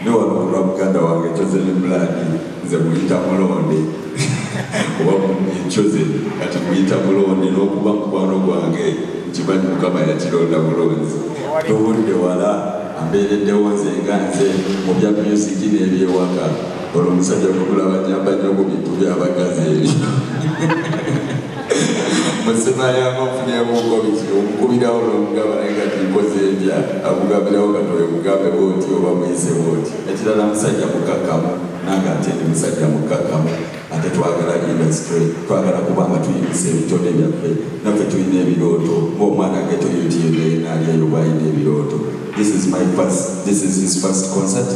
Ndi wano ku lwa muganda wange Chosen Blood, nze muyita Mulonde oba Mummy Chosen, kati muyita Mulonde n'okuba mukwano gwange nkimanyi Mukama yakironda bulungi. Tuvudde wala, ambeereddewo nze nga nze mu bya myusiki n'ebyewaka. Ono omusajja bwe mulaba nnyamba nnyo ku bintu by'abakazi ebyo. musemayamba nfunyeemu obugobizi omukubirawo n'omugamba naye nga tinkoze entya akugambirawo nga towemugambe bwoti oba muyise bwoti ekirala musajja mukakkamu nange ate ndi musajja mukakkamu ate twagala industry twagala kuba nga tuyimisa ebitone byaffe naffe tulina ebirooto ngaomwana geto yotiyonayinalyeyo bwalina ebirooto this is my first, this is his first concert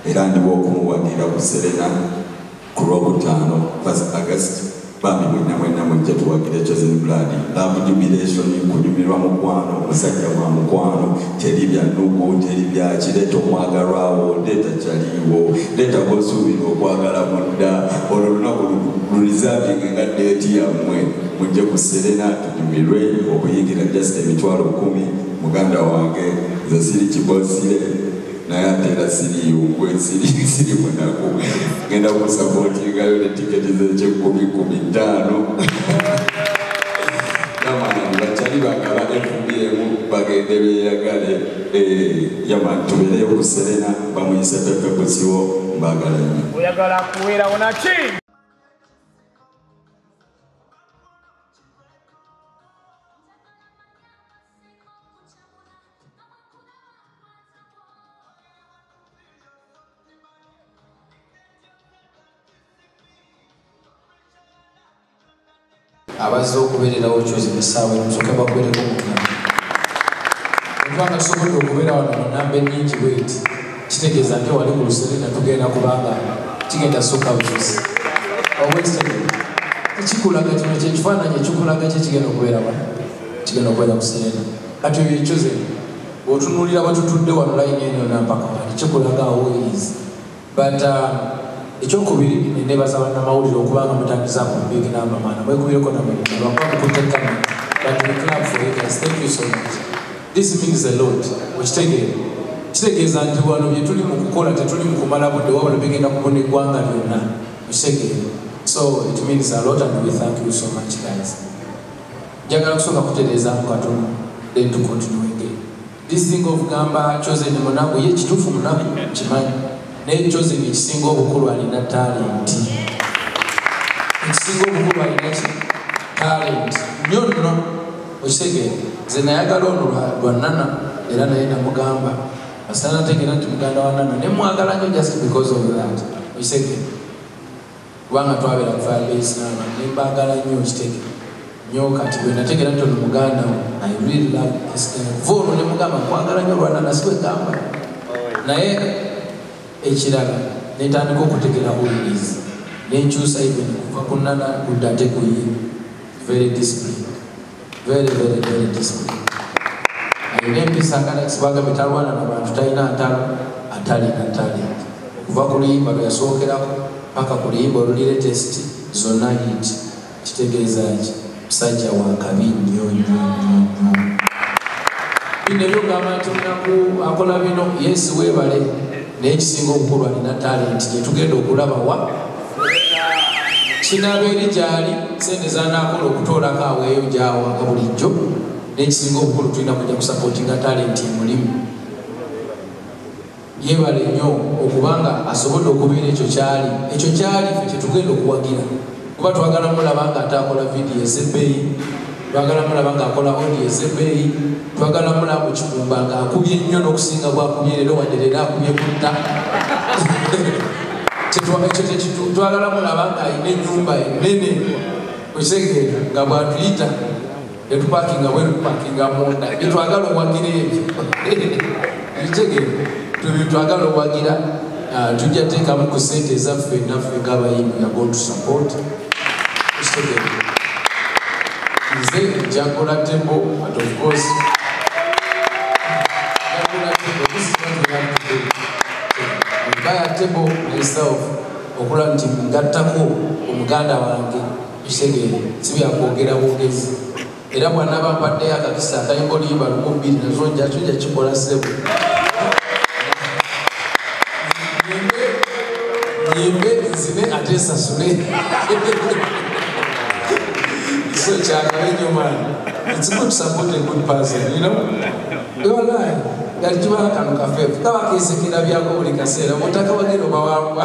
era ndiwo okumuwagira ku serena Ku lw'okutaano first August bambi mwenna mwenna mujje tuwagire Chosen Blood love jubilation kunyumirwa mukwano musajja wa mukwano teri bya nnugu teri byaki leeta omwagalwawo leeta kyaliiwo leeta gosuubira okwagala mudda olwo lunaku lulizavinge nga deeti yammwe mujje ku serena tunyumirwe okuyingira just emitwalo kumi muganda wange nze siri kibosire naye ate era siriyo gwesiri siri munaku ngenda kusapotingayo ne tiketi zekyekumi kumi ttaano yamana bakyali bagala efubiyemu bagende beyagale eh, yaman tubeereyo ku serena bamuyise pepe kusiwo mbagala nyo oyagala kuweerawo naki abazze okubeererawo kyozi musaawa emusoke bakubereko mukama nfanasobodde okubeera wano mu namba enyingi bweti kitegeeza nti wali ku luserena tugenda kubanga kigenda soka buzi ekikulaga kino kyekifaananyi ekikulaga kye kigenda okubeera wano kigenda okubeera ku serena Kati oyo ecoze otunulira bwetutudde wano layini eno yona mpaka wali kikulaga awoyizi but uh, ekyokubiri nenebaza banamawulire okubanga mutandiza ku big number mwana mwekubireko namukutekka but we club for you guys thank you so much this means a lot okitegeera kitegeeza nti wano bye tuli mu kukola tetuli mu kumala budde wabula bigenda kubona eggwanga lyonna okitegeera so it means a lot and we thank you so much guys Njagala kusooka kutereezaamu katono then to continue again. This thing of gamba Chosen munaku ye kituufu munaku kimanyi naye Chosen ekisinga obukulu alina talenti ekisinga obukulu alina ki talenti nyo nno okitegeera nze nayagala ono lwa nana era naye namugamba asana ntegeera nti muganda wa nana nemwagala nyo just because of that okitegeera kubanga twabera ku firebase naba nembagala nyo okitege nyo kati bwenategera nti ono muganda we i really love this guy va ono nemugamba kwagala nyo olwana nasiwegamba naye ekirala netandika okutegera holis nenkyusa even kuva kunana kudda ate kuye very discipline very very very discipline alina empisa nga nakisibaga betalwana na bantu talina ntalo atalina talent okuva ku luyimba lwe yasookerako paka ku luyimba olulire test zonna yit kitegeeza ki musajja wakabi nnyo nnyo nnyo bino ebyogamba nti omunaku akola bino yesu webale naye ekisinga obukulu alina talenti gyetugenda okulaba wa kinaaba eri gyali sente zanakola okutoolako aweeyo gyawa nga bulijjo nekisinga obukulu tulina kuja kusapotinga talenti emulimu yebale nnyo okubanga asobodde okubeera ekyo kyali ekyo kyali fe kyetugenda okuwagira kuba twagala mulaba nga ate akola vidiyo ezebbeeyi twagala mulaba nga akola odi ezebbeeyi twagala mulaba mu kikumba nga akubye nnyo n'okusinga bwakubye leero wadde leero akubye kutta twagala mulaba nga alina ennyumba enene okitegeera nga bwatuyita etupakinga bwetupakinga munda byetwagala owagira ebyo bitegere twebitwagala owagira ah, tujja teekamu ku sente ezaffe naffe ngaabayimbi nga gotusupport kitegere nze njakola tembo but of course mbaya tembo myself okulaba nti ngattako omuganda wange Tusegere si bya kwogera bwogezi era bw'anaaba mpaddeyo akakisa atayimba oluyimba lumu bbiri nazo nja kyo nja kikola ssebo nyimbe nzine ate nsasule so kyagala nnyo maani it's good support a good person you know yolayi yali kibala kano kafeefu kaba keesekera byako buli kaseera mutaka wagenda obawangwa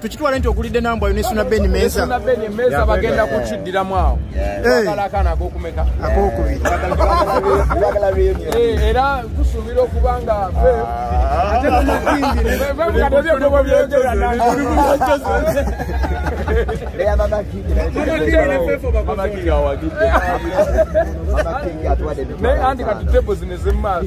tukitwale nti ogulidde nambwa yo nesuna beni meza bagenda kukiddiramu awo akokubiri era tusuubira okuba nga naye anti kati tebo zino ezemumaaso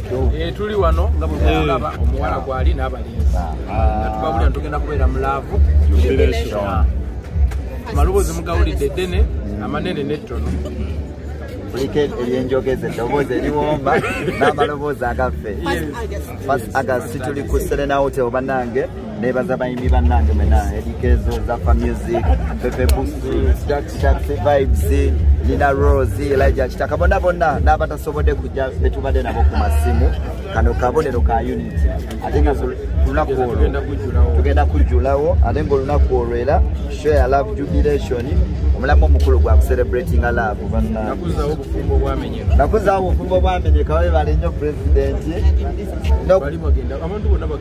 Eh, tuli wano nga bwemulaba eh. omuwala gwali n'abalenzi ah. tubabulira ntugenda kubeera mu laavu maloboozi mugawulidde eddene amanene n'ettono kuliko ebyenjogeza eddoboozi ebiwomba n'amaloboozi agaffe pas agas situli ku serena hotel banange nebaza bayimbi bannange mena edikezo zafa music pepe busi taxi vibes nina rose elija kitaka bonna bonna n'abatasobodde kujja betubadde nabo ku masimu kano kabonero ka unit ate nga lunaku olwo tugenda kujjulawo ate nga olunaku olwo era show ya love jubilation omulamu omukulu gwa kucelebratinga love bannanakuzaawo obufumbo obwamenyeka babe bali nnyo pulezidenti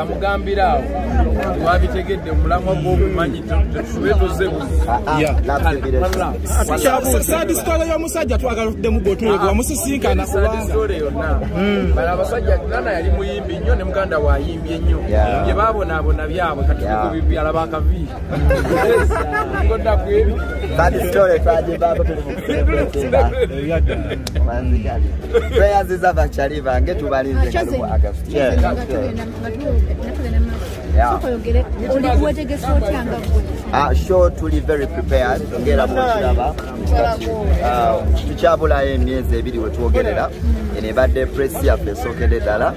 amugambira awo wabitegedde omulamwa gwokumanyi tube tuze sadisitole yomusajja twagala tuddemu gotuleka wamusisinkana sadisitole yonna bala abasajja nana yali muyimbi nnyo ne muganda wayimbye nnyo bye babonaabona byabwe katikubibyala bakavi ngodakwebyo prayers is ava chali bange tubalinze kalubu august yeah yeah ah sure to be very prepared ngera bwekiraba ah, tukyabulayo emyezi ebiri wetwogerera eno ebadde presi yaffe esookedde ddala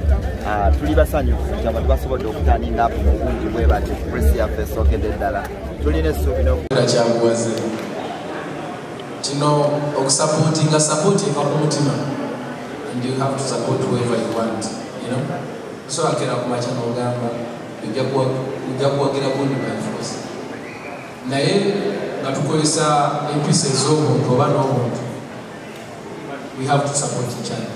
ah, tuli basanyufu kyaba tubasobodde okutaninga apo mu bungi bwe bati presi yaffe esookedde ddala tulina essuubi nokuakyabuwaze Kino okusapotinga sapoti eva ku mutima and you have to support whoever you want you know so akera kumakya nogamba ojja kuwagira gundi byanfuuzi naye nga tukozesa empisa ez'obuntu oba n'obuntu we have to support each other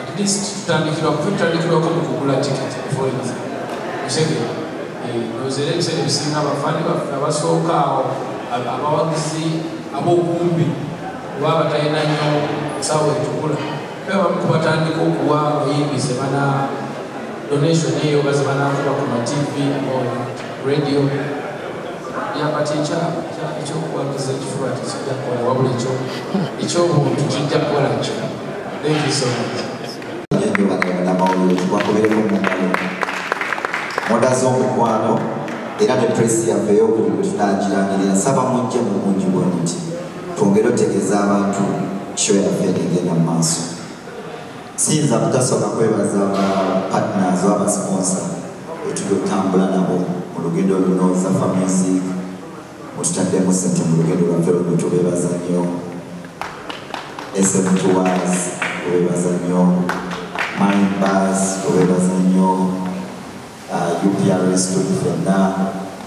at least tutandikirwa kutandikirwako mu kugula ticket forensi musege nozera ebiseera ebisinga abafaani baffe abasooka awo abawagizi abokumbi oba abatalina nyo saawa etukula bebamu kubatandika okuwa abayimbi zebana donation eyo bazebanakuba ku matv radio yabati ekyokuwagiza ekifuba tekijja kukola wabula ekyobuntu kijja kukola kyo mudaze omukwano era ne presi yaffe eyokuli bwetunagirangirira nsaba mujje mu bungi bwe muti twongere otegeeza abantu kyo yaffe negenda mu maaso siyinza kutasooka kwebaza ba partners oba basponsa etuli okutambula nabo mu lugendo luno zafa music mututaddemu sente mu lugendo lwaffe luno tubeebaza nnyo smtwas tubeebaza nnyo mindbas tubeebaza nnyo uh, uprs tuli fenna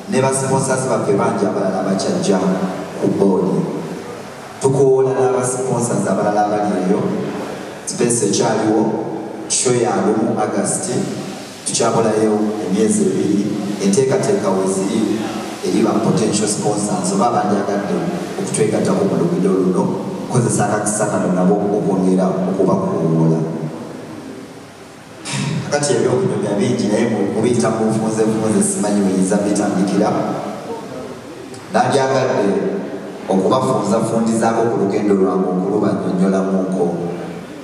ne basiponsazi baffe bangi abalala abakyajja ku boodi tukoola n'abasiponsazi abalala abali eyo space ekyaliwo sho yalumu agasti Tukyabulayo emyezi ebiri enteekateeka we ziri eri ba potential sponsors oba abandyagadde okutwegattako mu lugendo luno okukozesa akakisa kano nabo okwongera okubakuwuula. Kakati eby'okunyumya bingi naye mubiyita mu nfunzefunze simanyi buyinza bitandikira. Nandyagadde okubafunzafundizaako ku lugendo lwange okulubannyonnyolamuuko.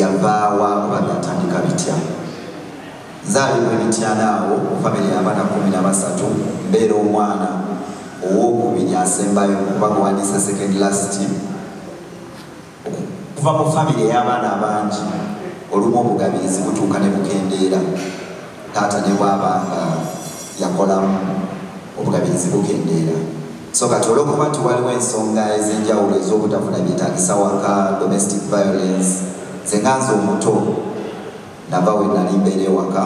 yavaawa oba byatandika bitya nzaalibwa emityana awo famire y'abaana kumi na basatu mbeera omwana ow'okubiri asembayo kuba muwandiise second last okuva mu famire ey'abaana abangi olumu obugabirizi butuuka ne bukendeera taata ne bwaba nga yakolamu obugabirizi bukendeera so kati olwokuba nti waliwo ensonga ez'enjawulo ez'obutafuna byetagisa waka domestic violence zenganza omuto nava we nali mbeera ewaka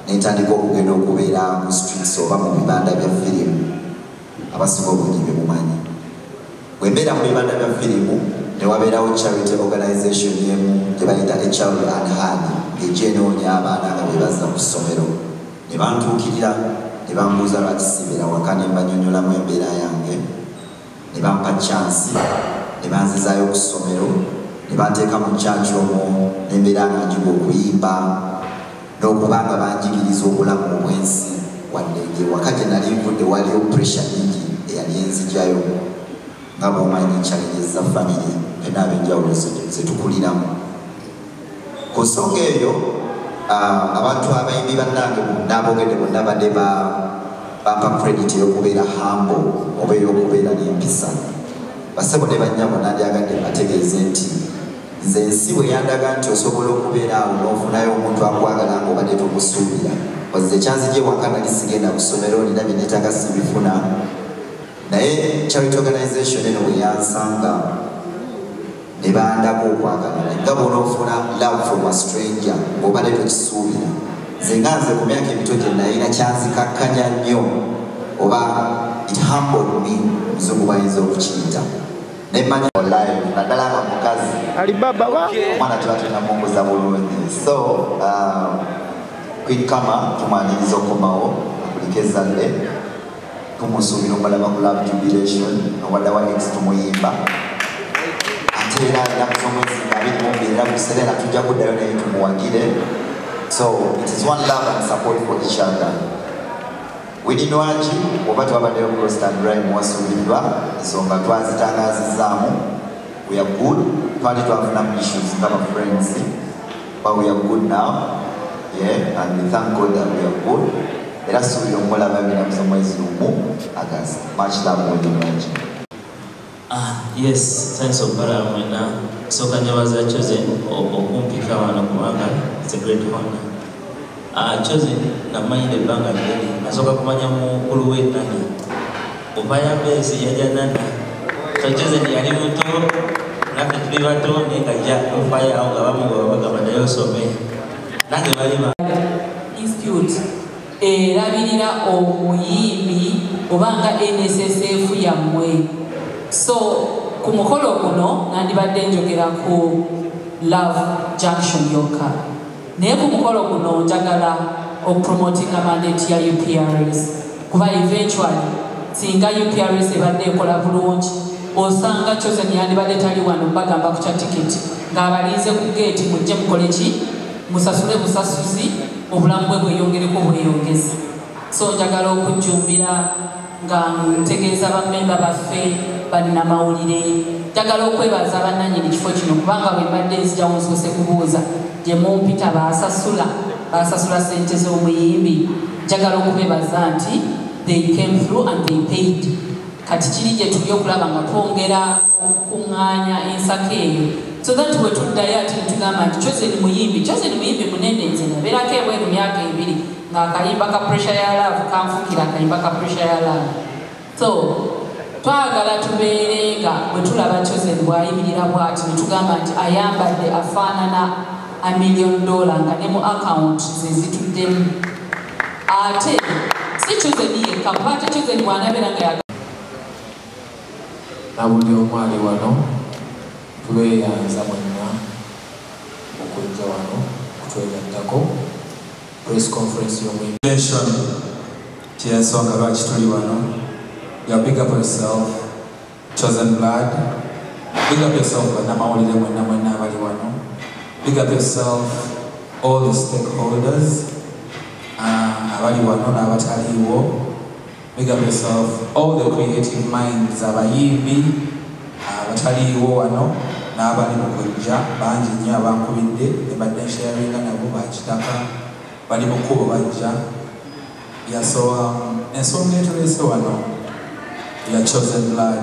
nentandika okugenda okubeera mu streets oba mu bibanda bya firimu Abasinga obungi be mumanyi. Bwe mbeera mu bibanda bya firimu ne wabeerawo charity organization emu gye bayita A Child Unheard ng'ejja enoonya abaana nga be bazza ku ssomero ne bantuukirira ne bambuuza lwaki sibeera waka ne mbanyonyolamu embeera yange ne bampa chansi ne banzizaayo ku ssomero ne banteeka mu church omwo ne mbeera nga njiga okuyimba n'okuba nga banjigiriza obulamu obw'ensi wadde ng'ewaka gye nali nvudde waliyo puresha nyingi eyali enzijayo nga bwomanyi challenges za famire fena ab'enjawulo zetukuliramu ku nsonga eyo ah, abantu abayimbi bannange n'abogedde bonna badde bampa credit ey'okubeera hambo oba ey'okubeera n'empisa basebo ne bannyabo nandyagadde mbategeeze nti Nze ensi bwe yandaga nti osobola okubeera awo n'ofunayo omuntu akwagala nga obadde tomusuubira. Ozi ekyanzigye waka nali sigenda ku ssomero nina bye neetaaga sibifuna naye charity organization eno bwe yansanga ne bandako okwagalana nga bwonoofuna love from a stranger ng'obadde tokisuubira nze nga nze ku myaka emito gye nayina kyanzikakkanya nnyo oba it humbled me muzungu bayinza okukiyita nemanya live nadala nga mukazi alibaba ba mwana tuba tunamunguza bulungi so um, kwikama tumwaniriza okomawo akulika ezadde tumusuubira obalaba ku love jubilation owadawa ex tumuyimba ate era alina kusomwezi nga abiri mumbi era musere nga tujja kuddayo naye tumuwagire so it is one love and support for each other Winnie Nwagi oba twabaddeyo ku Roast and Rhyme wasuuliddwa ensonga twazitangaazizaamu we are good twali twafunamu issues nga ba friends but we are good now yeah and we thank God that we are good era suubira okumulaba ebinamuzo mwezi lumu August much love Winnie Nwagi Ah, yes, thanks okubalaba mwena. Nsooka njabaza Chosen okumpika wano kubanga it's a great honor. Ah, Chosen namanyira ebbanga ddene. Nasooka kumanya mukulu we Nana. Ovaya Mbezi yaja Nana. So Chosen yali muto naffe tuli bato naye nga ja ofaya awo nga bamugoba bagamba naye osome. Nange bali ba Institute. erabirira omuyimbi oba nga nssf yammwe so ku mukolo guno nandibadde njogera ku love junction yokka naye ku mukolo guno njagala okupromotinga mandate ya uprs kuba eventually singa uprs ebadde ekola bulungi osanga chosen yandibadde tali wano bagamba ku kya tiketi ng'abalinze ku geeti mujje mukole ki musasule busasuzi obulamu bwe bweyongereko bweyongezi so njagala okujjumbira nga ntegeeza bamemba baffe bannamawulire njagala okwebaza bannanyini kifo kino kubanga bwembadde nzijawo nsoose kubuuza gye mumpita baasasula baasasula sente z'omuyimbi njagala okubebaza nti they came through and they paid kati kiri gye tuli okulaba nga twongera okukuŋŋaanya ensako eyo so that bwe tuddayo ati ne tugamba nti chosen muyimbi chosen muyimbi munene nze nabeerako ebweru myaka ebiri ng'akayimba ka pressure ya laavu kanfukira akayimba ka pressure ya laavu so twagala tubeere nga bwe tulaba chosen bw'ayimirira bw'ati ne tugamba nti ayambadde afaanana a million dollar nga ne mu akawunti ze zituddemu ate si chosen yekka paate chosen bw'anabeera nga Nabuli omu ali wano tubeyanza mwenna okujja wano okutwegattako press conference yomu Nation kyensonga lwaki tuli wano your big up yourself chosen blood big up yourself banamawulire mwenna mwenna abali wano big up yourself all the stakeholders uh, abali wano n'abataliiwo Big up yourself all the creative minds abayimbi abataliiwo wano n'abali mu kujja bangi nnyo abankubidde ne badde nsharinga nabo ba kitaka bali mu kkubo bajja yasowa ensonga etuleese wano ya chosen blood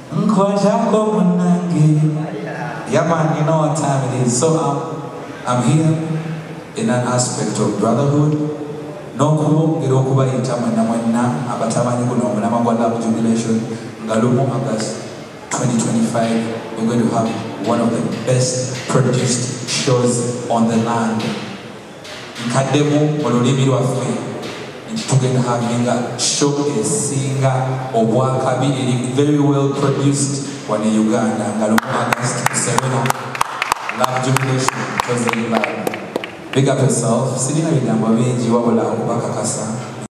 Nkwatako munange. Yeah man, you know what time it is. So I'm, I'm here in an aspect of brotherhood. n'okulwongera okubayita mwenna mwenna abatamanyi guno omulama gwa love jubilation nga lumu august 2025 we're going to have one of the best produced shows on the land nkaddemu mu lulimi lwaffe nti tugenda havinga show esinga obwakabi eri very well produced wane uganda nga lumu agast serena love jubilation chosen by big up yourself sirina bigambo bingi wabula okubakakasa